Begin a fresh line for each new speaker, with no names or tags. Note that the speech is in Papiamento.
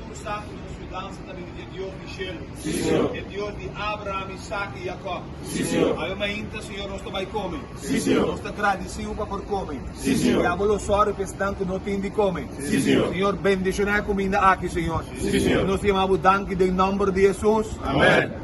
Ku sa ku nos yudansa ta bini di e Dios di shelu? E Dios di Abraham, Isak i Yakòb? Awe mainta, señor, nos ta bai kome. Nos ta gradisiu pa por kome. I abo lo sòru pa esnan ku no tin di kome. Señor, bendishoná e kuminda aki, señor. I nos ta yama bo danki den nòmber di Hesus. Amen.